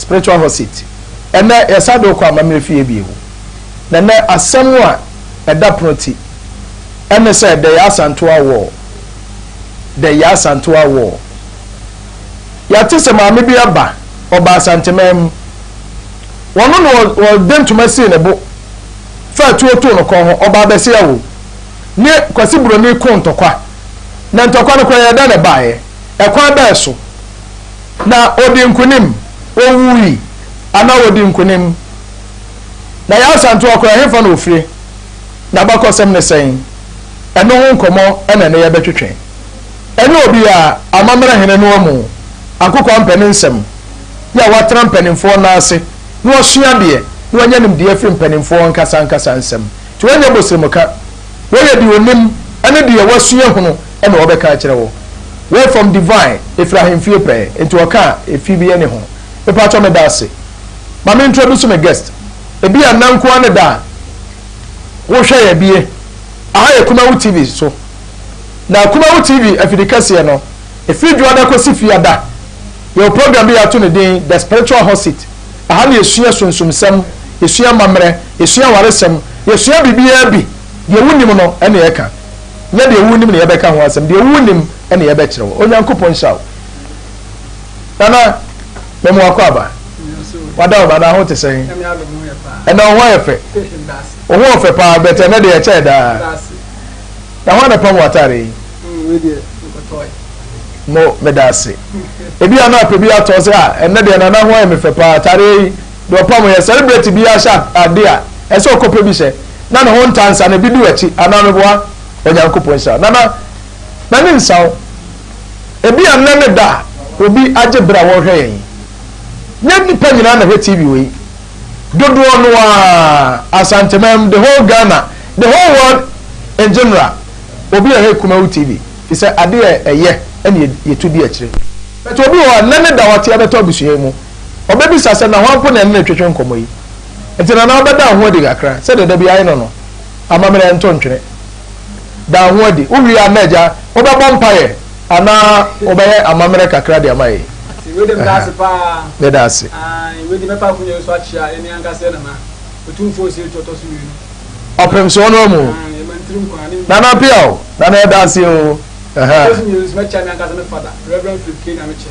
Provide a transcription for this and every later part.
Spiritual Hot Seat. Ɛnnɛ, yɛsan de wo kɔ amammerɛ fie bio. Na ɛnnɛ, asɛm a ɛda pono ti ne sɛ The Yaa Asantewaa War, The Yaa Asantewaa War. Yɛate sɛ maame bi aba, ɔbaa Asanteman mu. Ɔno na ɔde ntoma sii ne bo faa tuo too no kɔn ho, ɔbaa bɛsea wo. Ne Kwasi Buroni koo ntɔkwa. Na ntɔkwa no koraa, yɛdɛn na ɛbaeɛ? Ɛkwan bɛn so? Na ɔdii nkonim, ɔwuui, anaa ɔdii nkonim. Na yɛn Asante ɔkɔ ɛ, hefa na ɔfire? N'abakɔsɛm ne sɛn? Ɛno ho nkɔmmɔ na ɛnnɛ yɛbɛtwetwe. Ɛnyɛ obiara, Amammerɛ Hene no amu Ankokoampɛ ne nsɛm, yɛ a watena mpanimfoɔ nan ase na wasua adeɛ na wanya nimdeɛ afiri mpanimfoɔ ankasa ankasa nsɛm. Nti wɔnyɛ bosremka. Wɔyɛ deɛ ɔnim ne deɛ wasua hunu Ɛna ɔbɛka akyerɛ wo. Word from Divine ɛfiri ahemfie pɛɛ nti ɔka a ɛfii bi yɛ ne ho. Mepakyɛw meda ase. Ma me introduce me guest. Ɛbi a nna nko ara ne da a wo hwɛ yɛ bie. Aha yɛ Kumawu TV so. Na Kumawu TV afidi kɛseɛ no ɛfiri Dwoada kɔsi Fiada. Yɛwɔ program bi yɛato ne din The Spiritual Hot Seat. Aha na yɛsua sunsumsɛm, yɛsua amammerɛ, yɛsua awaresɛm, yɛsua biribiara bi. Deɛ wo nnim no ɛna yɛka. Nyɛ deɛ wonim na yɛbɛka ho asɛm, deɛ wonim na yɛbɛkyerɛ wo. Onyankopɔn nhyira wo. Nana, memu akwaaba. Wada wo ma na ho te sɛn? Ɛnɛ wo ho ayɛ fɛ. Wo ho ɔfɛ paa bɛtɛ ɛnɛ deɛ ɛkyɛɛ daa. Na ho anapam wo atare yi? Mo meda ase. Ebi a na apɛ bi atɔ sɛ a ɛnɛ deɛ nana ho ayɛ me fɛ paa atare yi Deɛ ɔpam yɛ, Celebrate biara hyɛ ade a ɛsɛ sɛ ɔkɔpɛ bi hyɛ, na ne ho ntaa nsa no, ebi di w'akyi, anaa Meboa Onyankopɔn nhyira. Nana, m'ani nsa wo. Ebia nnɛ ne da a obi agye bere a wɔrehwɛ yɛn yi. Nyɛ nnipa nyinaa na ɛhwɛ TV wɔ yi. Dodoɔ no ara, Asanteman, the whole Ghana, the whole world in general, obi rehwɛ Kumawu TV, ɛfiri sɛ adeɛ a ɛyɛ ɛne yɛtu di akyire. But obi wɔ hɔ a, nnɛ ne da a ɔte a ɛbɛtɔ abusua yi mu. Ɔbɛbisa sɛ, Na hwan po na ɛne no retwetwe nkɔmmɔ yi? Enti Nana wobɛda wo ho adi kakra, sɛdeɛ da biara no no, amammerɛ ɛnto ntwene. Da wo ho adi. Wowie a, na agya, wobɛbɔ mpaeɛ anaa wobɛyɛ amammerɛ kakra de ama yɛn? Ate, wei deɛ meda ase pa ara. Meda ase. Aane, wei deɛ mɛfa akonnwa yi so akyea yɛn ankasa yɛn Nana, Otumfoɔ Osei Tuah Ɔtɔso-Mmienu. Ɔpem soɔ no amu o. Aane, ma ne tiri nkwa, ne nnwuma. Nana Appiah o, Nana yɛda ase o. Ɔtɔso-Mmienu nso, mɛkyea me ankasa me Fada, Rev. Philip K. Nyamekyɛ.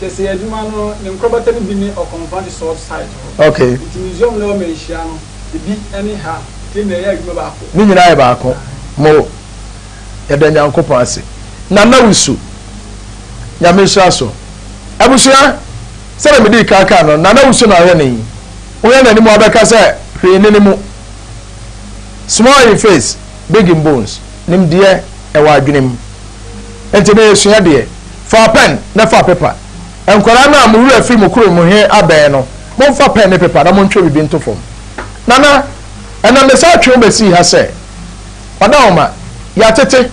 Kɛseyɛ adwuma no ne nkorabata no bi ne Ɔkɔm Mfantse Salt Site hɔ. Ntsi Museum no hɔ mbanhyia no bi nye ha, ntsi nna yɛyɛ adwuma baako. Ne nyina yɛ baako. Mo, yɛda Nyankopɔn ase. Nana Wusu, Nyame nhyira so. Ebusua, sɛdeɛ medii kan kaa no, Nana Wusu na ɔyɛ ne yi. Wohwɛ n'anim a wobɛka sɛ hwee nni ne mu. Small in face. Digging Bones, Nim Deɛ Ɛwɔ Adwene Mu. Enti na yɛsua deɛ, Fa pɛn na fa pepa. Nkwadaa no a mo werɛ afiri mo kurom mu he abɛn no, momfa pɛn ne pepa na montwerɛ biribi nto fam. Nana, ɛnna mesan twe wo besii ha sɛ, Ɔdawoma, yɛatete.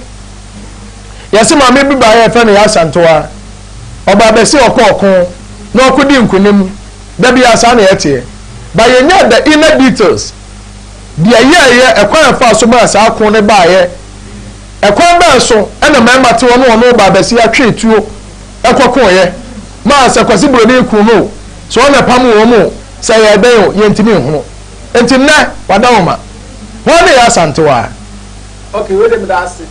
Yɛse maame bi baeɛ a yɛfrɛ no Yɛasantoa. Ɔbaa bɛse ɔkɔ ɔko, na ɔko dii nkonim. Da biaa saa na yɛteɛ. But yɛnyaa the inner details. deɛ ɛyɛeɛ, ɛkwan a ɛfaa so maa saa ko no baeɛ, ɛkwan bɛn so na mmarima te hɔ ne wɔn ɔbaa basia twee tuo kɔkoeɛ maa sɛ Kwasi Buroni kuu no o, sɛ wɔn na ɛpam wɔn o, sɛ ɛyɛɛ dɛn o, yɛntumi nhunu. Enti nnɛ, wɔada wɔn ma. Hwan na ɛyɛ Asantewaa? Okay, wei deɛ meda ase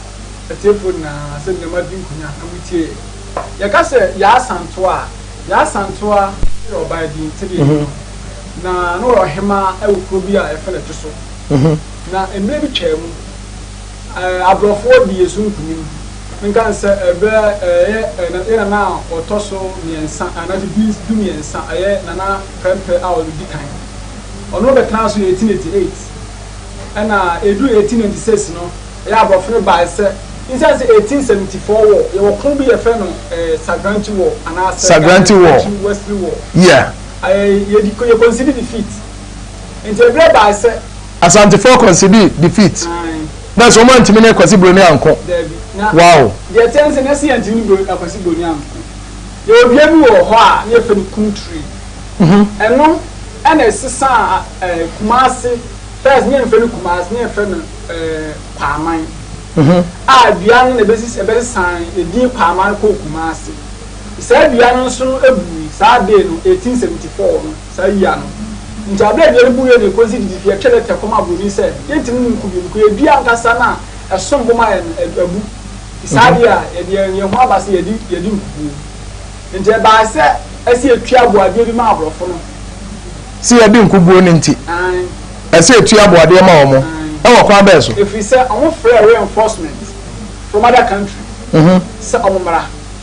atiefoɔ nyinaa sɛ nneɛma di nkonya na motie yɛ. Yɛka sɛ Yaa Asantewaa a, Yaa Asantewaa yɛ ɔbaa din, sɛdeɛ yɛnim no. Na na ɔyɛ ɔhemaa wɔ kuro bi a yɛfrɛ no Ɛto So. Na mmerɛ bi twaa mu, eh, aborɔfoɔ dii yɛn so nkunim. Menka no sɛ ɛberɛ ɛyɛ eh, na- yɛ nana a ɔtɔ so mmiɛnsa, anaasɛ du, du mmiɛnsa, ɛyɛ Nana Prɛmprɛ a ɔdi kan. Ɔno bɛtenaa so 1888. Ɛna ɛduru 1896 no, ɛyɛ aborɔfo no baeɛ sɛ, nsiane sɛ 1874 wɔ, yɛwɔ ko bi yɛfrɛ no eh, Sagranti War, anaasɛ Sagranti War. Ghana Territory Wesley War. Yeah. Yɛdi yɛ kɔnsidi defeat nti ɛbrɛ baa sɛ. Asantefoɔ kɔnsidi defeat. Ae. Na ɛsɛ wɔn antumi ne Kwasi Broni anko. Daabi. Na. Wow. Deɛ ɛteɛ ne sɛ na ɛsɛ yɛntumi ne Bro Kwasi Broni anko. Yɛwɔ dua bi wɔ hɔ a na yɛfrɛ no Kum Tree. Ɛno ɛna ɛsesaa eh, Kumasi, first na yɛnfrɛ no Kumasi na yɛfrɛ no eh, Paaman. A dua no na ɛbɛsisi ɛbɛsesaa edin Paaman kɔɔ Kumasi. Saa dua no nso no bui saa day no, 1874 no, saa yea no. Nti aberɛ a dua no buiɛ no ɛkɔsi titifi ɛtwɛ letter kɔma aburoni sɛ yɛntumi no nku bio because yɛ dua ankasa no a ɛsom bo ma yɛn no abu. Nti saa adeɛ a yɛde yɛn yɛn ho aba sɛ yɛde yɛde nkukuo. Nti ɛbaa sɛ ɛsɛ yɛtua aboadeɛ bi ma aborɔfo no. Sɛ yɛde nkukuo no nti Ae. ɛsɛ yɛtua aboadeɛ ma wɔn. Ae. Ɛwɔ kwan bɛn so? Ɛfiri sɛ wɔfrɛɛ reinforcement from other country sɛ wɔmmra.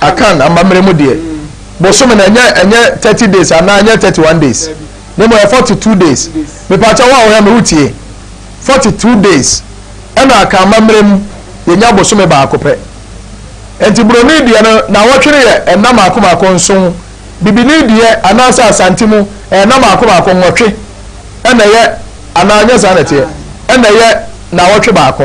Akan amammerɛ mu deɛ, bosome no ɛnyɛ ɛnyɛ thirty days anaa ɛnyɛ thirty one days, na mmom ɛyɛ forty two days. Mepaakyɛ wo a wohwɛ me wotie, forty two days ɛna Akan amammerɛ mu yɛnya bosome baako pɛ. Nti Buroni deɛ no naawɔtwe no yɛ nna mmaako mmaako nson, Bibini deɛ anaasɛ Asante mu ɛyɛ nna mmaako mmaako nwɔtwe ɛna ɛyɛ anaa ɛnyɛ saa na ɛteɛ? Ɛna ɛyɛ naawɔtwe baako.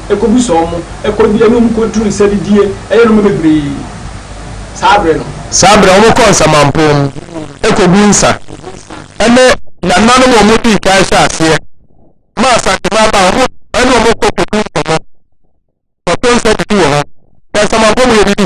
ɛkɔbu sɔɔ mo, ɛkɔdi ɛnum kɔduru nsɛdidie ɛyɛ nnoɔma bebree saa berɛ no. Saa berɛ wɔn kɔɔ nsamanpɔn mu ɛkɔguu nsa ɛne nananom wɔn dii kan hyɛ aseɛ maa Asante maabaa wɔn ɛne wɔn kɔ kɔdi nkɔmmɔ kɔto nsa didi wɔ hɔ na nsamanpɔn mu yɛdidi.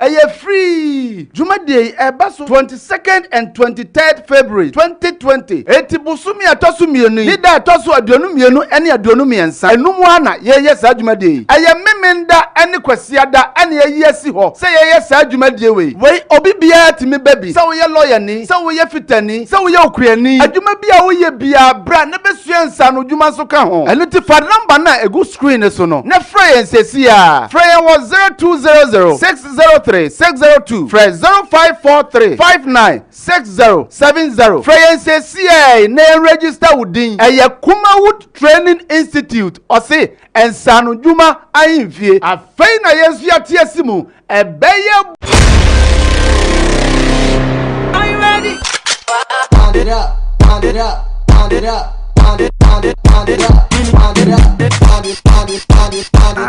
Ɛyɛ free! Dwumadie yi ɛba so twenty second and twenty third February twenty twenty. Eti bosome a ɛtɔ so mmienu yi ne da a ɛtɔ so aduonu mmienu ne aduonu mmiɛnsa ɛno mu ara na yɛyɛ saa dwumadie yi. Ɛyɛ Memenda ne Kwasiada na yɛayi asi hɔ sɛ yɛyɛ saa dwumadie wei. Wei obi biara tumi ba bi, sɛ woyɛ lɔyani, sɛ woyɛ fitani, sɛ woyɛ okuani, adwuma bi a woyɛ biara bra na bɛsua nsaanodwuma nso ka ho. Ɛno nti fa number no a ɛgu. screen no so no na frɛ yɛn sesiaa. Frɛ yɛn wɔ 0200 603 602, frɛ 0543 59 6070. Frɛ yɛn sesiaa yi na yɛn register wo din. Ɛyɛ Kumawood Training Institute, ɔse, nsaanodwuma ahemfie. Afei na yɛn nso yɛate asi mu Ɛbɛyɛ.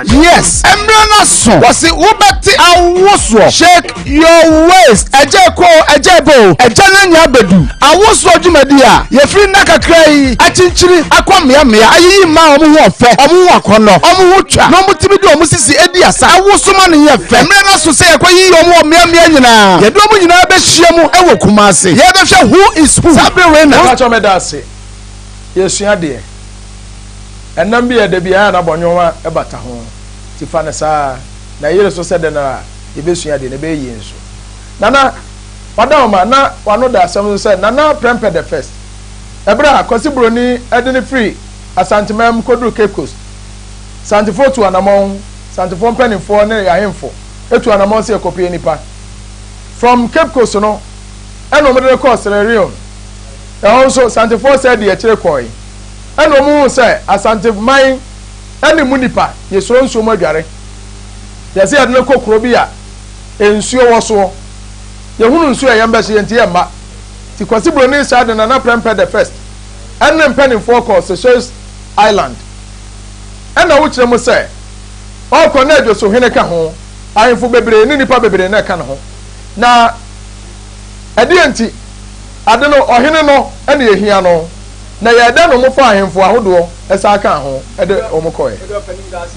Yes, ɛmmerɛ no aso. Wɔsi wobɛte awosoɔ. Shake your waist. Ɛgya ɛkɔ o, ɛgya ɛba o, ɛgya no anya abɛdu. Awosoɔ dwumadie a yɛfiri nna kakra yi akyinkyini akɔ mmea mmea ayiyi mmaa a wɔn ho ɔfɛ, wɔn ho akɔnnɔ, wɔn ho twa na wɔtumi de wɔn sisi di asa awoso ma no yɛ fɛ. Mmerɛ no aso sɛ yɛkɔyiyi wɔn wɔ mmea mmea nyinaa. Yɛde wɔn nyinaa bɛhyia mu wɔ Kumasi. Yɛrebɛhwɛ Who is Who saa bere wei na. Mpakyɛw meda ase. Yɛresua adeɛ. Ɛnam bi yɛ dɛ biara na bɔnwoma bata ho, nti fa no saa ara na yere so sɛ dɛn ara a yɛbɛsua adeɛ na ɛbɛyɛ yie nso. Nana, Wada hɔ ma na w'ano da asɛm so sɛ Nana Prɛmpɛ the First. Ɛberɛ a Kwasi Buroni de no firi Asanteman mu kɔduru Cape Coast, Santefoɔ tuu anamɔn, Santefoɔ mpaninfoɔ ne y'ahemfo tuu anamɔn sɛ yɛkɔpue nnipa. From Cape Coast no ɛna wɔde no kɔɔ Sierra Leone. Ɛhɔ nso Santefoɔ sɛɛ dii akyire kɔɔe. Ɛna wɔn huu sɛ Asante man ne mu nnipa yɛ suro nsuo mu adware. Yɛse yɛde no kɔ kuro bi a. Nsuo wɔ soɔ. Yɛhunu nsuo a ɛyɛ mbɛ so yɛnti yɛ mma. Nti Kwasi Broni saa de Nana Prempeh the First ɛne mpaninfoɔ kɔɔ Seychelles Island. Ɛna wokyerɛ mu sɛ ɔɔkɔ na Adwoso hene ka ho, ahenfo bebree ne nipa bebree na ɛka ne ho. Na ɛdeɛ nti? Ade no ɔhene no na yɛhia no. Na ɛyɛɛ dɛn na wɔfaa ahenfo ahodoɔ ɛsan kaa ho de wɔn kɔɛ?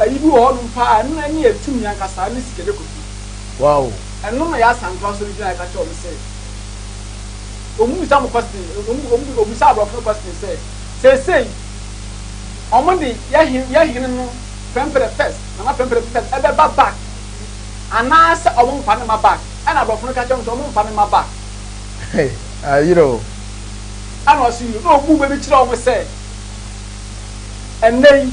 Ayi bi wɔ hɔ nom paa ɛno na ɛne ɛtumi ankasaa ne sikagya kofi. Wow. Ɛno na Yaa Santo asɔre gyinaeɛ ka kyerɛ wɔn sɛ wɔn bisa mo question wɔn wɔbisa aborɔfo no question sɛ seesei wɔn de yɛ hene yɛ hene no Prempeh the first Nana Prempeh the first ɛbɛba back anaa sɛ wɔn mfa no ma back ɛna aborɔfo no ka kyerɛ wɔn sɛ wɔn mfa no ma back. Hey ayerɛ o. Ɛna ɔse na ɔbu bɛ bi kyerɛ wɔn sɛ ɛnnɛ yi.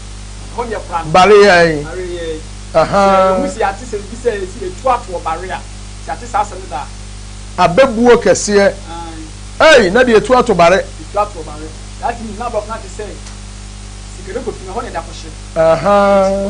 Bare yɛn. Abɛbuo kɛseɛ. Ei, na deɛ ɛtu ato bare. Aha.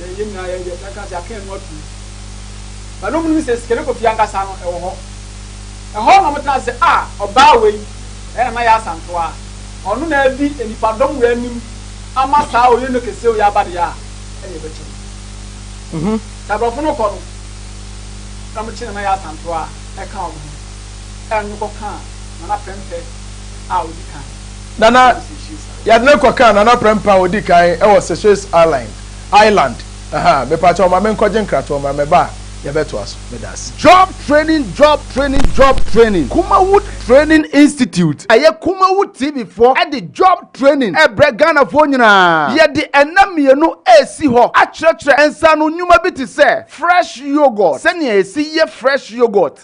yɛ yɛ nyinaa yɛ yɛtena kaa sɛ aka yɛn ho atum ba no mu no sɛ sikane kofie ankasa no ɛwɔ hɔ ɛhɔ na wɔtena sɛ a ɔbaa wei ɛna na yɛ asantoa ɔno na adi nipa dɔm wei anim ama saa ɔyɛ no kɛseɛ ɔyɛ aba deɛ a ɛna ɛbɛkyɛ no mhm. sɛ aborɔfo no kɔ no na wɔkye na na yɛ asantoa ɛka wɔn ho ɛno kɔ kaa na na pɛmpɛ a ɔdi kan Nana Yadne kɔkaa Nana Prempah a ɔdi kan wɔ Seychelles Island, Island, ha. Mepa kyɛw ma menkɔgye nkratoɔ mmra, meba a yɛbɛtoa so. Meda ase. Job Training Job Training Job Training Kumawood Training Institute Ɛyɛ Kumawood TV foɔ de Job Training rebrɛ Ghanafoɔ nyinaa. Yɛde nna mmienu resi hɔ akyerɛkyerɛ nsaano nnwuma bi te sɛ Fresh Yoghurt, sɛnea yɛsi yɛ Fresh Yoghurt,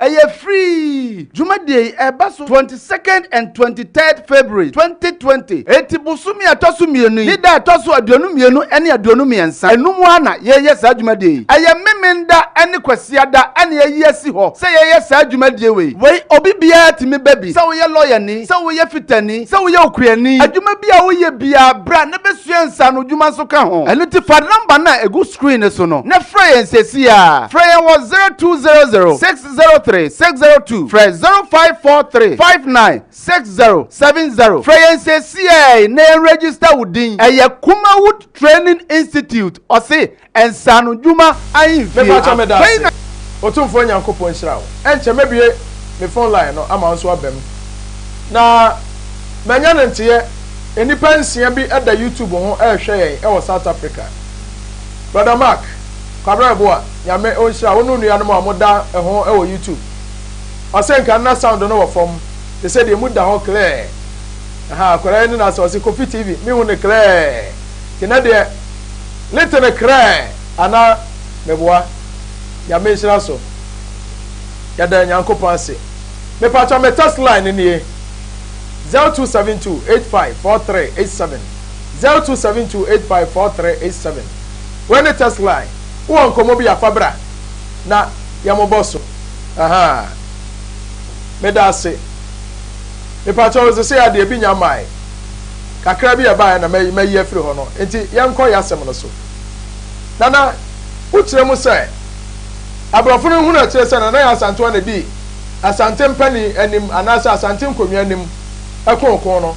Ɛyɛ free! Dwumadie yi ɛba so twenty second and twenty third February twenty twenty. Enti bosome a ɛtɔ so mmienu yi ne da a ɛtɔ so aduonu mmienu ne aduonu mmiɛnsa. Ɛno mu ara na yɛyɛ saa dwumadie yi. Ɛyɛ Memenda ne Kwasiada na yɛayi asi hɔ sɛ yɛyɛ saa dwumadie wei. Wei obi biara tumi ba bi, sɛ woyɛ lɔyani, sɛ woyɛ fitani, sɛ woyɛ okuani, adwuma bi a woyɛ biara bra na bɛsua nsaanodwuma nso ka ho. Ɛno nti fa number no a ɛgu. screen no so no na frɛ yɛn sɛsi ara. Frɛ yɛn wɔ 0200 603 602, frɛ 0543 59 6070. Frɛ yɛn sɛsi ara yi na yɛn register wo din. Ɛyɛ Kumawood Training Institute, ɔse nsaano dwuma ahenfie. Mepakyɛ meda Afei ase. na. Otumfoɔ Nyankopɔn nhyira wo. Ɛnkyɛ mɛbue me phone line no ama wo nso aba mu. Na manya no nteɛ, nnipa nsia bi da YouTube ho rehwɛ yɛn wɔ South Africa. Brother Mark Kwabena Boah Nyame onhyira wo ne onuanom a moda ho wɔ YouTube. Ɔse nka nna sound no wɔ fam te sɛ deɛ mu da hɔ klɛɛ. Ahaa akwadaa yi ne n'asɛm ɔse Kofi TV me hu no klɛɛ nti nɛ deɛ lite no krɛɛ anaa meboa. Nyame nhyira so yɛda Nyankopɔn ase. Mepakyɛ me text line no nie zero two seven two eight five four three eight seven. zero two seven two eight five four three eight seven wei ne text line wowɔ nkɔmmɔ bi a fa bra na yɛmobɔ so aha meda ase mepakyɛ wo sesei adeɛ bi nya mae kakra bi ɛbaeɛ na mayi mayi afiri hɔ no nti yɛnkɔ yɛ asɛm no so nana wokyerɛ mu sɛ aborɔfo no hunu akyerɛ sɛ nana yɛ asantewa na di asante mpanin anim anaasɛ asante nkonnwa anim ɛkookoo no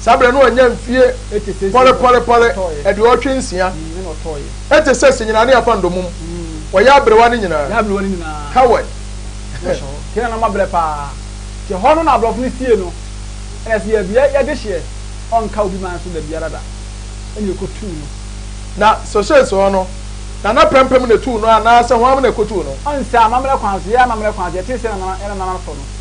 Saa berɛ no annya mfie pɔrepɔrepɔre aduɔwɔtwe nsia. Ɛte sɛ senyinane afa ndɔmum. Wɔyɛ aberewa no nyinaa. Howard. Kei na na mabrɛ paa. Te hɔ no na abrɔfo no sie no. Ɛna sɛ yɛabia yɛn dehyeɛ, ɔnka obi man so dabiara da. Ɛna yɛkɔtuu no. Na sɔhyɛɛ so hɔ no, na na prɛmpem na ɛtuu no anaa sɛ hwan na ɛkɔtuu no? Ɔnsɛ amammerɛ kwan so. Yɛyɛ amammerɛ kwan so. Yɛtee sɛ na nana retɔ no.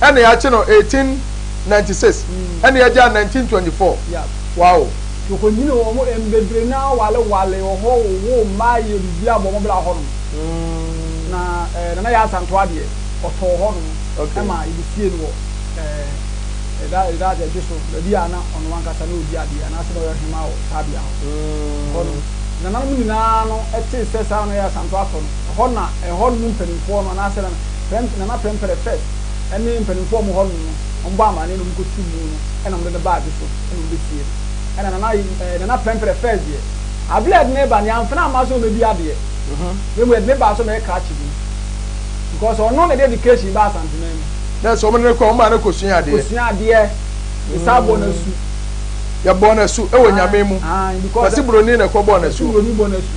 ɛna yɛakye no eighteen ninety six ɛna yɛagya nineteen twenty four wow. Tokonyin wɔ hɔ mbebree na awale wale wɔ hɔ wowoo mma yɛ biribi abɔ wɔn bra hɔ nom na ɛɛ Nana Yaa Asantewa deɛ ɔtɔɔ hɔ nom ɛma yɛde siee no wɔ ɛɛ ɛda ɛda ɛdwe so baabi a na ɔno ankasa na ɔredi adeɛ anaa sɛ na ɔyɛ ɔhemaa wɔ saa bea hɔ hɔ nom Nananom nyinaa no ɛtee sɛ saa Nana Yaa Asantewa atɔ no ɛhɔ na ɛhɔ nom mpaninfoɔ no anaa sɛ Nana Prɛmp Nana Prɛmpɛrɛ First ne mpanimfoɔ a wɔwɔ hɔnom no, wɔbɔɔ amanneɛ na wɔkɔtuu mu no na wɔde no baa bi so na wɔbɛsiee no. Ɛnna Nana Ayi ɛɛ Nana Prɛmpɛrɛ First deɛ, aberɛ a yɛde no reba no, yɛamfa no amma sɛ ɔmmɛdi adeɛ, na mmom yɛde no baa sɛ ɔmmɛyɛ krakye bi, because ɔno na ɛde education baa Asanteman mu. Dɛ sɛ wɔde no kɔ a, wɔmaa no kɔsuaa adeɛ. Kɔsuaa adeɛ. Yɛsan bɔɔ no asu. Yɛbɔɔ no asu wɔ Nyame mu. Aane, aane, because. Wɔse Buroni na ɛkɔbɔɔ no asu. Wɔse Buroni bɔɔ no asu.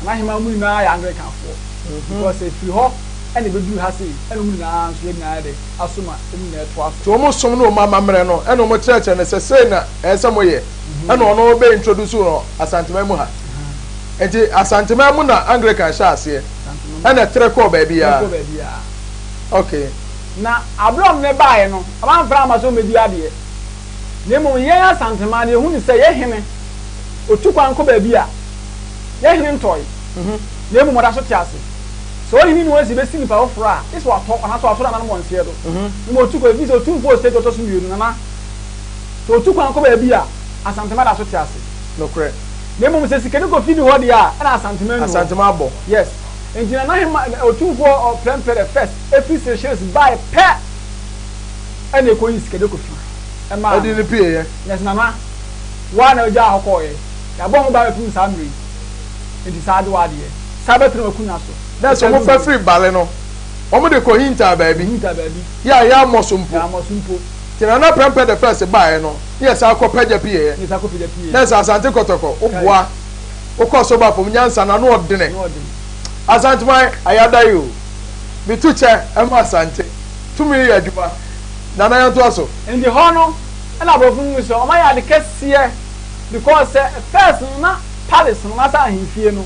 Nana Hemaa ɔmo nyinaa yɛ Anglicanfoɔ because efiri hɔ ɛna ebeduru ha sei ɛna ɔmo nyinaa nso yɛn nyinaa yɛ dɛ aso ma ɔmo nyinaa ɛtoa so. Nti ɔmo som ne ɔmo amammerɛ no ɛna ɔmo kyerɛkyerɛ no sɛ sei na ɛyɛ sɛ mo yɛ ɛna ɔno bɛ introduce no Asanteman mu ha nti Asanteman mu na Anglican hyɛɛ aseɛ ɛna ɛtrɛ kɔɔ baabiara okay. Na abere a ɔmo ne baeɛ no ɔmo anfra amma sɛ ɔmo bedi adeɛ na mmom yɛn Asanteman no yɛhu no sɛ yɛ hene ɔtu kwan kɔ baabi a. Yɛn hene ntɔe, na mmom ɔda so te ase. Sɛ ɔhene no ansi bɛsi nnipa foforɔ a, gye sɛ watɔ anaa sɛ wato nananom wɔ nseɛ do. Mmom ɔtu kwan, ɛfiri sɛ otumfoɔ wɔ stage ɔtɔ so mmienu, nana. Sɛ ɔtu kwan kɔ baabi a, Asantema da so te ase. Nokorɛ. Na mmom sɛ sikani kɔ fidi hɔ deɛ a, ɛna Asantema nni hɔ. Asantema abɔ. Yes. Enti Nana Hema, Otumfoɔ Prɛmpɛ the First, firi Seychelles baeɛ pɛ, ɛna ɛkɔyii Sikade Kofi, ɛmaa no. Ɛde no pieeɛ. Yes, Nana. Wo ara na wogyaa hɔ kɔeɛ. Yɛabɔ ho ban bɛpem no saa mmerɛ yi. Enti saa adewa ara deɛ, saa bɛtena w'akunnwa so. Na sɛ wɔfa firi bale no, wɔde kɔhintaa baabi. Wɔhintaa baabi. Yɛ a yɛammɔ so mpo. Yɛammɔ so mpo. Nti na na prɛmpɛ the first baeɛ no, na yɛsan kɔ pagya pieeɛ. Na yɛsan kɔ pagya pieeɛ. Na sɛ Asante Kɔtɔkɔ, woboa, wokɔ so ba fam, nyansa no, ano ɔdene. Ano ɔdene. Asanteman, ayɛ adaeɛ o. Metu kyɛ ma Asante. Tumi yɛ adwuma. Nana yɛntoa so. Enti hɔ no, ɛna aborɔfo no hu sɛ wɔayɛ ade kɛseɛ. Because sɛ first no na palace no anaa sɛ ahenfie no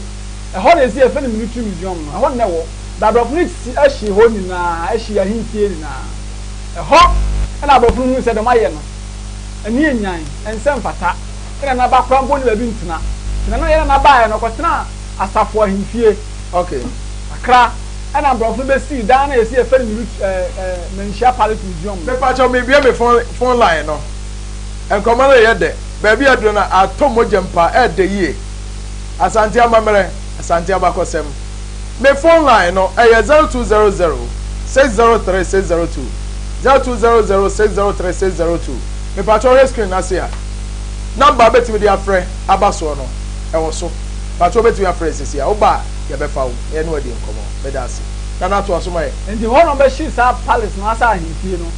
ɛhɔ na ɛsi yɛfrɛ no military museum no ɛhɔ na ɛwɔ but aborɔfo no si ɛhye hɔ nyinaa ɛhye ahenfie nyinaa ɛhɔ ɛna aborɔfo no hunu sɛ dɛm ayɛ no ɛne ɛnyan ɛnsɛ ɛmfata ɛna na ba koraa mpo ne baabi ntena nti na na yɛ na na baeɛ no ɔkɔtena asafo ahenfie ok akra ɛna aborɔfo no bɛsii dan na yɛsi yɛfrɛ no military ɛɛ ɛɛ manhyia palace museum no. Mepakyɛw mebue me phone phone line no. Nkɔmɔ no reyɛ dɛ, baabi a aduru no atɔ mogya mpo a, ɛredɛ yie. Asante amammerɛ, Asante abakɔsɛm. Me phone line no, ɛyɛ zero two zero zero, six zero three, six zero two, zero two zero zero, six zero three, six zero two. Mepakyɛ wohwɛ screen no ase a, number a wobɛtumi de afrɛ aba soɔ no, ɛwɔ so. Pakyɛ wobɛtumi afrɛ sisi a, woba a, yɛbɛfa wo na yɛne wo adi nkɔmɔ. Meda ase. Nana toa so ma yɛn. Enti hɔ na wɔbɛhye saa palace no asa ahemfie no.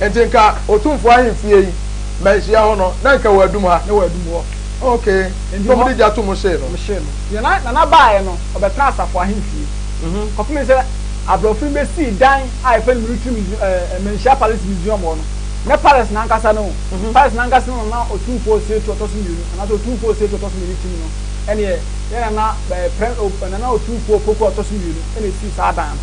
Enti nka Otumfoɔ ahemfie yi manhyia hɔ no, na nka wɔadum ha. Na wɔadum hɔ. Okay. Enti Na hɔ, wɔde gya to mo hyee no. wɔhyee no. Deɛ na, na n'abaeɛ no, ɔbɛtenaa asafo ahemfie. Kɔpem sɛ Aborɔfo no bɛsii dan a yɛfrɛ no Military Museum, ɛɛ, Manhyia Palace Museum hɔ no. Nyɛ Palace no ankasa no o. Palace no ankasa no na na Otumfoɔ Osetu Ɔtɔ So Mmienu, anaasɛ Otumfoɔ Osetu Ɔtɔ So Mmienu tim no. Ɛnneɛ, yɛn Nana, ɛɛ, Prɛ, o, Nana Otumfoɔ Opoku Ɔtɔ So Mmienu na ɛsii saa dan no.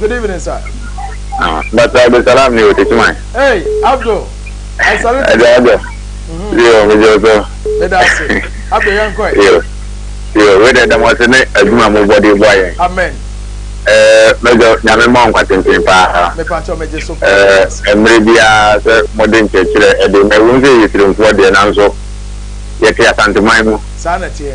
Good evening, sir. Ah, but uh, the salam ni wote chimai. Hey, Abdul. I salute you. Hey, Abdul. Mm-hmm. Yo, me joso. Me dasi. Abdul yankoi. Yo. Yo, we de damo se ne aduma mo body boy. Amen. Eh, me jo nyame mo nkwa tintin pa. Me pa cho me jeso pa. Eh, emre bia se modern chechire e de me won se yitrim fo de nanso. Yete asante man mu. Sa na tie.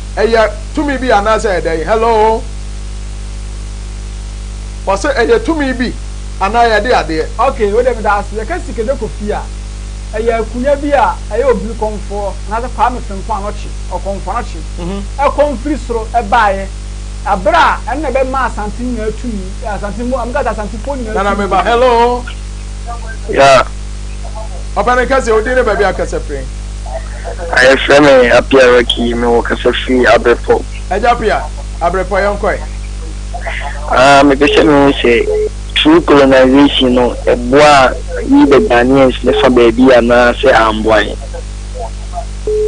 ɛyɛ tumi bi anaasɛ ɛyɛ dɛn hello wɔsɛ ɛyɛ tumi bi anaa yɛde adeɛ. ok wei deɛ meda ase yɛka sikadwa kɔ fie a ɛyɛ akunya bi a ɛyɛ obiri kɔmfoɔ anaasɛ kwame fenko anɔkye ɔkɔmfo anɔkye ɛkɔm firi soro ɛbaeɛ ɛberɛ a ɛno na ɛbɛmaa asante nyinaa tumi asante mu amekasa asantefoɔ nyinaa tumi. nana meba hello. Yeah. Papa me kasa odi ne baabi akasa firi. Ayɛ fɛ me apia raki me wɔ kasa firi abrɛpɔ. Ɛgya pia abrɛpɔ yɛn kɔɛ. Ah me pese me ho sɛ true colonization no ɛboa yi the Ghanaians ne fa baabi anaa sɛ amboa yɛn.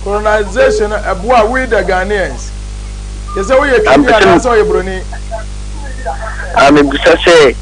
Colonization no ɛboa we the Ghanaians. Yɛ sɛ woyɛ Kenya anaasɛ ɔyɛ Broni. Ah me bisa sɛ.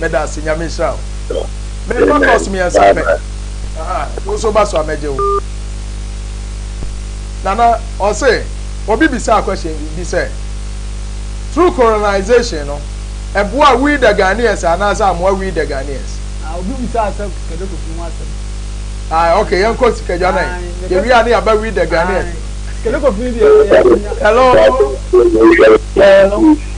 meda ase nyame nhyira wo mekɔ kɔs mmiɛnsa pɛ wo nso ba so a mɛgye wo nana ɔse obi bisa akwɛhyɛn bi sɛ through colonization no ɛboa we the ghanaians anaasɛ amoa we the ghanaians ah, obi bisa asɛ sikadwa kofi ho asɛm ah, ok yɛnkɔ sikadwa no yɛwie a ne yɛaba we the ghanaians sikadwa kofi deɛ hello hello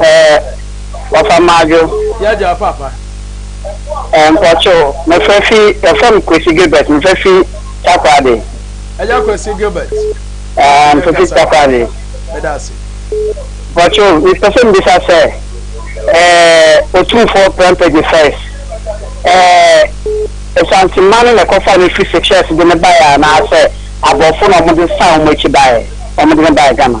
Eh, Wafa Madwo. Yɛ gya paapa. Eh, mpɔkye o, mefrɛ fi, yɛfrɛ me Kwesi Gilbert, mefrɛ fi Takoradi. Ɛyɛ Kwesi Gilbert. Eh, mefrɛ fi Takoradi. Meda ase. Mpɔkye o, mepɛ sɛ mbisa sɛ, eh, Otumfoɔ Prempeh first, eh, Asante mma no na ɛkɔfaa no firi Seychelles de no baeɛ anaasɛ aborɔfo na wɔde san wɔn akyi baeɛ, wɔde no baeɛ Ghana?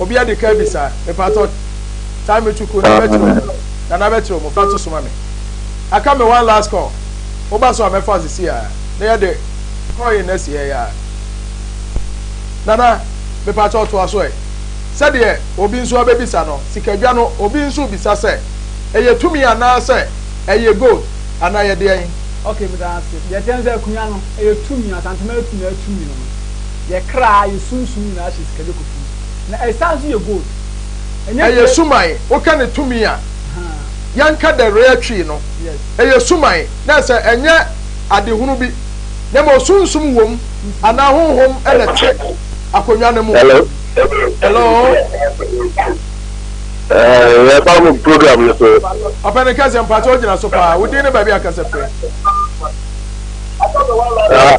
Obi adi kan bisa, mepatɔ, time me to cool, na bɛkyerɛ wo, na na bɛkyerɛ wo, fa to soma me. Aka me one last call, woba so a mɛfa wo sisi a, na yɛde call in na si ha yi a. Nana, mepatɔ toa so ɛ. Sɛdeɛ obi nso abɛbisa no, sikadwa no, obi nso rebisa sɛ, ɛyɛ tumi anaa sɛ ɛyɛ gold, anaa ɛyɛ deɛn? Ok, meda ase. Deɛ ɛteɛ ne sɛ akonnwa no, ɛyɛ tumi, Asantehene Mary Pina tumi no. Yɛ kra, yɛ sunsum nyinaa hyɛ sika dwokofiri mu, na ɛsan nso yɛ gold. Ɛnyɛ Ɛyɛ dua. suman, woka ne tumi a, Ahaa. yɛnka the rare twi no. Yes. Ɛyɛ suman, na ɛsɛ ɛnyɛ adehunu bi, na mmom sunsum wom, anaa honhom na ɛte akonnwa no mu. Hello. Hello. Eh, yɛ ba mo program no so. Ɔpɛni kɛseɛ, mpakyɛ wogyina so paa, wo din ne baabi a kasa firi. Ah.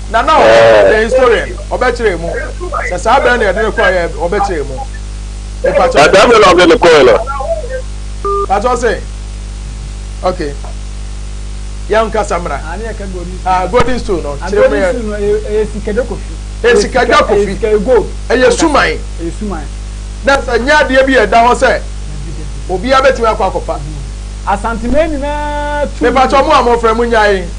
na na ɔyɛ the historian ɔbɛkyerɛ mu sɛ saa bɛn na yɛde no kɔ yɛ ɔbɛkyerɛ mu mpatsɔ. na saa bɛn na ɔde no kɔ yɛ no. mpatsɔ sɛ ok yɛn nkasa mra ah golden stone no kyerɛ mu yɛ. ɛyɛ sikadwa kofi. ɛyɛ sikadwa kofi ɛyɛ suman na sɛ nyɛ adeɛ bi ɛda hɔ sɛ obiara bɛtumi akɔ akɔfa. asanteman nyinaa tu. mepatsɔ mo a mo fɛ mo nyae.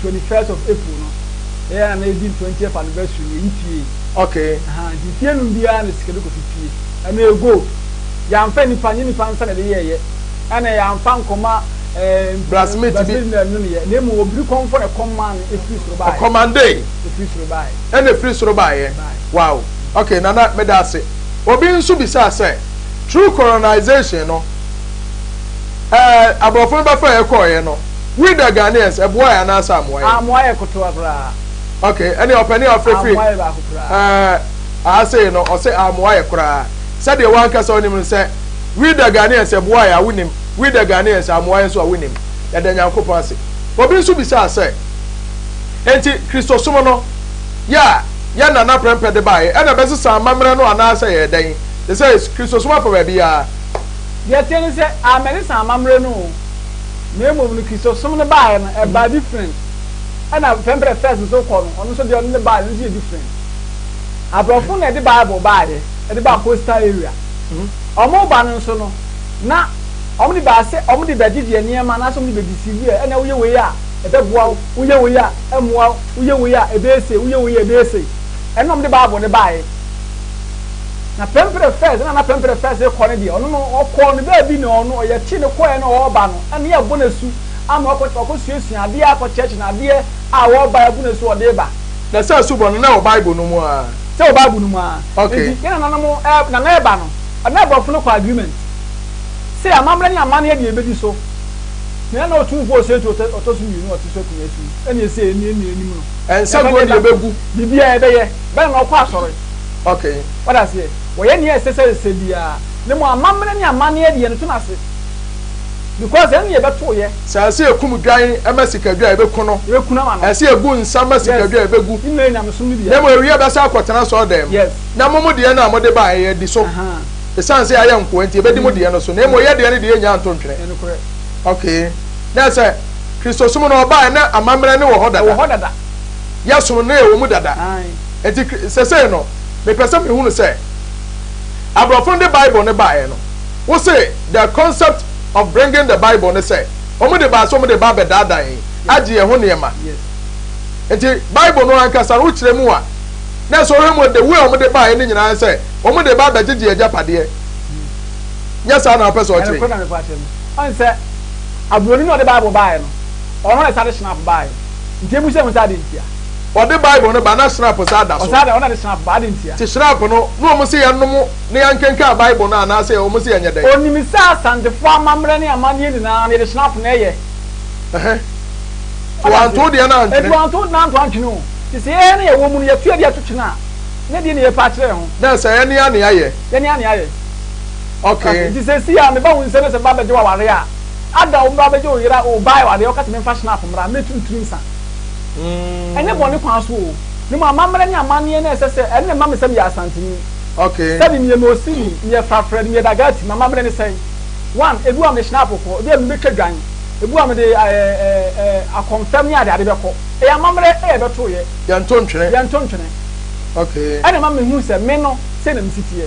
twenty first of April no yɛ yɛ na na yɛdi twentieth anniversary no yɛyi fie okay ahaa nti fie num biara na sika bi kɔfi fie ɛno yɛ gold yɛanfa nipa nye nipa nsa na yɛde yɛɛyɛ ɛna yɛanfa nkɔma ɛɛ blacksmith bi blacksmith na ɛno no yɛ na emu obiri kɔmfɔ na ɛkɔm maa no efiri soro baayɛ ɔkɔmande efiri soro baayɛ ɛna efiri soro baayɛ wow okay nana meda ase obi nso bisaa sɛ true colonization no ɛɛ aborɔfo no bɛfa yɛ kɔɔyɛ no. We the Ghanaians ɛboa yɛ anaa sɛ amoa yɛ. Amoa yɛ kotoa koraa. Ok ɛneɛ ɔpɛni a ɔfrɛ firi. Amoa yɛ baako koraa. Ɛɛ aha sei no ɔse amoa yɛ koraa sɛdeɛ wankasa wonim no sɛ we the Ghanaians ɛboa yɛ a wonim we the Ghanaians amoa yɛ nso a wonim yɛda Nyankopɔn ase. Obi nso bisaa sɛ enti Kristosom no yɛ a yɛn nana prɛmpɛ de baeɛ ɛna ɛbɛsesa amammerɛ no anaa sɛ yɛ dɛn they says Kristosom afa baabiara. Deɛ ɛteɛ ne sɛ amen ɛsesa amammerɛ no o. Na mmom no Kristosom no baeɛ no ɛbaa different ɛna pɛmprɛ first nso kɔ no ɔno nso deɛ ɔno ne baeɛ no nso yɛ different aborɔfo na ɛde bible baeɛ ɛde baa coastal area ɔmo reba no nso no na ɔmo de baa sɛ ɔmo de bɛgye deɛ nneɛma anaasɛ ɔmo de bɛ deceive ɛ ɛna woyɛ wei a ɛbɛboa wo woyɛ wei a ɛmmoa wo woyɛ wei a ɛbɛyɛ sei woyɛ wei a ɛbɛyɛ sei ɛno na ɔmo de bible no baeɛ Na pɛmprɛ fɛs na na pɛmprɛ fɛs rekɔ no deɛ ɔno no ɔkɔɔ no baabi na ɔno ɔyɛ te no kɔɛ na ɔreba no ɛne ɛbɔ no asu ama ɔkɔ ɔkɔ suasua adeɛ akɔ church na adeɛ a ɔreba ɛbɔ no asu ɔde ba. Na saa asu bɔ no na ɛwɔ bible no mu aa. Sɛ wɔ bible no mu aa. Okay. Nti yɛ nana no mo ɛ nana ɛba no ɔne aborɔfo no kɔ agreement sɛ amammerɛ ne amanneɛ deɛ ɛbɛdi so na yɛ na ɔtumfoɔ ɔsɛ tu ɔtɔ ɔtɔ so mmienu ɔte so akunwa si ɛne ɛsɛ ɛni ɛni anim no. Nsaguo deɛ ɛbɛgu. Biribiara ɛbɛyɛ. bɛn na ɔkɔ asɔre? Okay. Wate aseɛ? Wɔyɛ nea ɛsɛ sɛ ɛsɛ biara. Ne mo amammerɛ ne amanneɛ deɛ no te no ase. Because ɛno na yɛbɛto yɛ. Sɛ ɛsɛ yɛkum dwan ma sikadwa a, yɛbɛku no. Yɛbɛku no ama no. Ɛsɛ yɛgu nsa ma sikadwa a, yɛbɛgu. Yes. Ne nyinaa yɛ nyamesom no bi. Na mmom ɛwieɛ yɛbɛsan akɔtena asɔredan mu. Yes. Na mo mo deɛ no a mode baeɛ yɛadi so. Ahaa. Ɛsiane sɛ yɛayɛ nkoa nti, yɛbɛdi mo deɛ no so. Na mmom yɛ deɛ no deɛ yɛnnya nto ntwene. Ɛyɛ nokorɛ. Okay. Na sɛ Kristosom no ɔbaeɛ na amammerɛ no wɔ hɔ dada. Ɛwɔ hɔ dada. yɛsom no wɔ mu dada. Enti seesei no, mepɛ sɛ mehunu sɛ aborɔfo no de Bible no baeɛ no, wose the concept of bringing the Bible ne sɛ wɔde baa sɛ wɔde ba abɛdaadaa yɛn, agye yɛn ho nneɛma. Enti Bible no ankasa no, wokyerɛ mu a, na ɛsɛ wohwɛ mu the way a wɔde baeɛ no nyinaa sɛ wɔde ba abɛgyegye agyapadeɛ. Nyɛ saa na wopɛ sɛ ɔkyerɛ yi? Ɔne sɛ, aburoni na ɔde Bible baeɛ no, ɔno na ɛsane hyena fo baeɛ. Nti emu sɛ hu sɛ adi ntia. Ɔde Bible no ba na Shrap saa da so. Ɔsaa da hɔ na de Shrap ba, adi ntia. Te Shrap no, na wɔn se yɛ nom na yɛ nkenkan Bible no anaa sɛ wɔn se yɛ nyɛ dɛn. Onim sɛ Asantefoɔ amammerɛ ne amanneɛ nyinaa no yɛde Shrap na ɛyɛ. Ɛhɛ. To wanto wo deɛ no antwene. Nti wanto wo deɛ no anto antwene o. Nti sɛ yɛɛ na yɛwɔ mu no yɛto adi ato kyene a, na ɛdeɛ na yɛ pɛ akyerɛ yɛ ho. Na sɛ yɛ nea nea yɛ. Yɛ nea nea yɛ. Okay. Nti sɛsi a me ba wo nsɛ na sɛ me ba bɛgye wo aware a. Ada wo mbra bɛgye wo yera oo baa ɛwɔ adeɛ wo kase menfa shnap mmra mmɛ turu tiri nsa ɛnyɛ bɔne kwan so oo memu amammerɛ ne amaneɛ na ɛsɛ sɛ ɛnna ɛma me sɛ meyɛ asanteni okay sɛbi meyɛ mosimi meyɛ frafra ni meyɛ dagati mamammerɛ ne sɛn one ebi wa me shnap kɔ ebi wa me bɛtwa dwan ebi wa me de ɛɛ ɛɛ ɛɛ akɔmfɛm ne ade ade bɛkɔ ɛyɛ amammerɛ ɛyɛ ɛbɛto yɛ yɛnto ntwene yɛnto ntwene okay ɛna ɛma me hu sɛ me no sɛ na me si teɛ.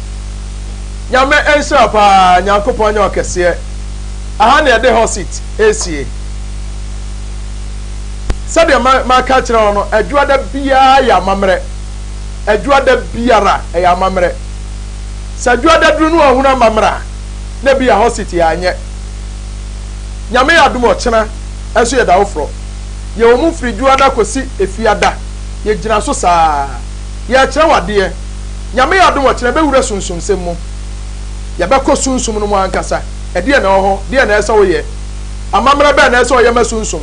Nyame nhyira paa Nyankopɔn nyɛ ɔkɛseɛ Aha na yɛde hɔ seat ɛresie Sɛdeɛ maka akyerɛ wo no Adwuada biara yɛ amammerɛ Adwuada biara ɛyɛ amammerɛ Sɛ Adwuada duru na wahunu amammerɛ a na ebia hɔ seat yɛanyɛ Nyame yɛ adom ɔkyena nso yɛda wo forɔ Yɛwɔ mu firi Dwuada kɔsi Efiada Yɛgyina so saa Yɛrekyerɛ wo adeɛ. Nyame adom ɔkyena yɛbɛwura sunsumsɛm mu. Yɛbɛkɔ sunsum no mu ankasa. Ɛdeɛn na ɛwɔ hɔ? Deɛn na ɛsɛ sɛ woyɛ? Amammerɛ bɛn na ɛsɛ sɛ ɔyɛ ma sunsum?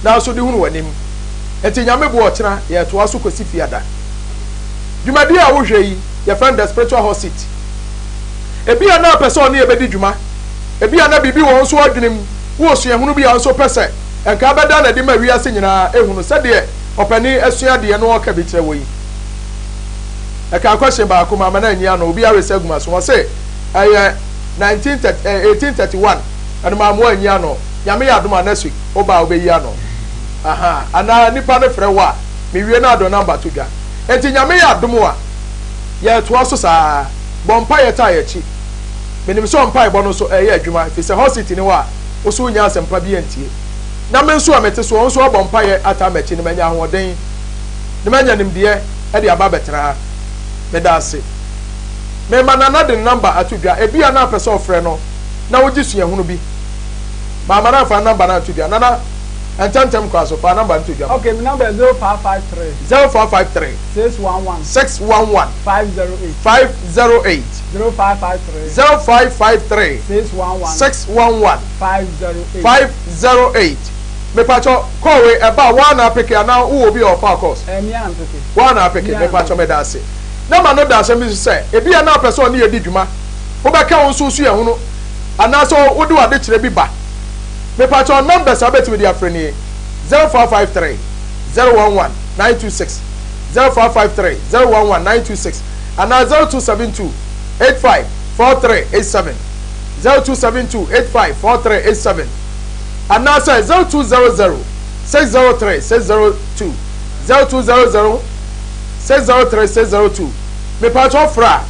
Nanso de hunu w'anim. Enti Nyame boa ɔkyena yɛretoa so kɔsi Fiada. Dwumadie a wohwɛ yi, yɛfrɛ no The Spiritual Hot Seat. Ebia na wopɛ sɛ ɔne yɛ bɛdi dwuma. Ebia na biribi wɔ wo nso w'adwenem, wo osuahunu bi a wo nso wopɛ sɛ nka bɛda no adi ma wiase nyinaa ahunu sɛdeɛ ɔpanin asua deɛ no ɔɔka bi kyerɛ wɔ yi. Ɛkaa question baako maama no anyi ano, obiara resa agu m'aso, ɔse ɛyɛ 19 thirty ɛɛ 1831 ɛno maama wanyi ano, Nyame yɛ adom a next week wo ba a wobɛyi ano ahaa anaa nipa no frɛ wo a mewie no a dɔ number to dwa. Enti Nyame yɛ adom a yɛɛtoa so saa, bɔ mpaeɛ taa yɛakyi. Menim sɛ ɔmpaebɔ no nso ɛɛyɛ adwuma, ɛfiri sɛ hot seat ne hɔ a wo so wonnya asɛmpa bi antie. na me nso a mete soɔ nso abɔ mpaeɛ ataa m'akyi no manya ahoɔden na manya nimdeɛ de aba abɛtena ha. Meda ase. Mema Nana de ne namba ato dwa, ebia na apɛ sɛ ɔfrɛ no na wogye suahunu bi. Mama no amfa ne namba no anto dwa. Nana, ntɛmntɛm kɔ aso, fa namba no to dwa ma. Okay, me namba yɛ zero five five three. Zero five five three. Six one one. Six one one. Five zero eight. Five zero eight. Zero five five three. Zero five five three. Six one one. Six one one. Five zero eight. Five zero eight. Mepatsɔ call wei ɛbaa woa na apeke anaa wowɔ obi a ɔfaa calls? Ɛɛ mea mpeke. Woa na apeke? Mea Mepatsɔ mpeke. medase. Na ma no da asɛm bi so sɛ ebia na ɔpɛ sɛ ɔne yɛ di dwuma. Wobɛka wo nso wosu yɛ ho no anaasɛ wode w'adekyerɛ bi ba. Mepatsɔ numbers a wobɛtumi de afrɛ nie, zero four five three, zero one one, nine two six, zero four five three, zero one one, nine two six anaa zero two seven two, eight five, four three eight seven. zero two seven two eight five four three eight seven anaasɛ zero two zero zero six zero three six zero two zero two zero zero six zero three six zero two mepatwɔ fra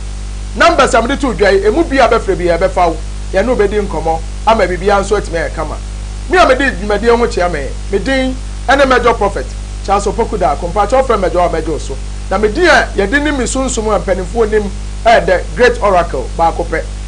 numbers a mede to dwa yi emu bi a bɛfrɛ bi yɛ bɛfa wo yɛn no bɛdi nkɔmɔ ama biribiara nso atumi ayɛ kama me a mede dwumadie ho kyea me me din ɛne mɛdwɔ prophet Charles Opoku Daako mpatwɔ frɛ mɛdwɔ a mɛdwɔ so na me din a yɛde nim me sunsum a mpanimfoɔ nim ɛɛdɛ great oracle baako pɛ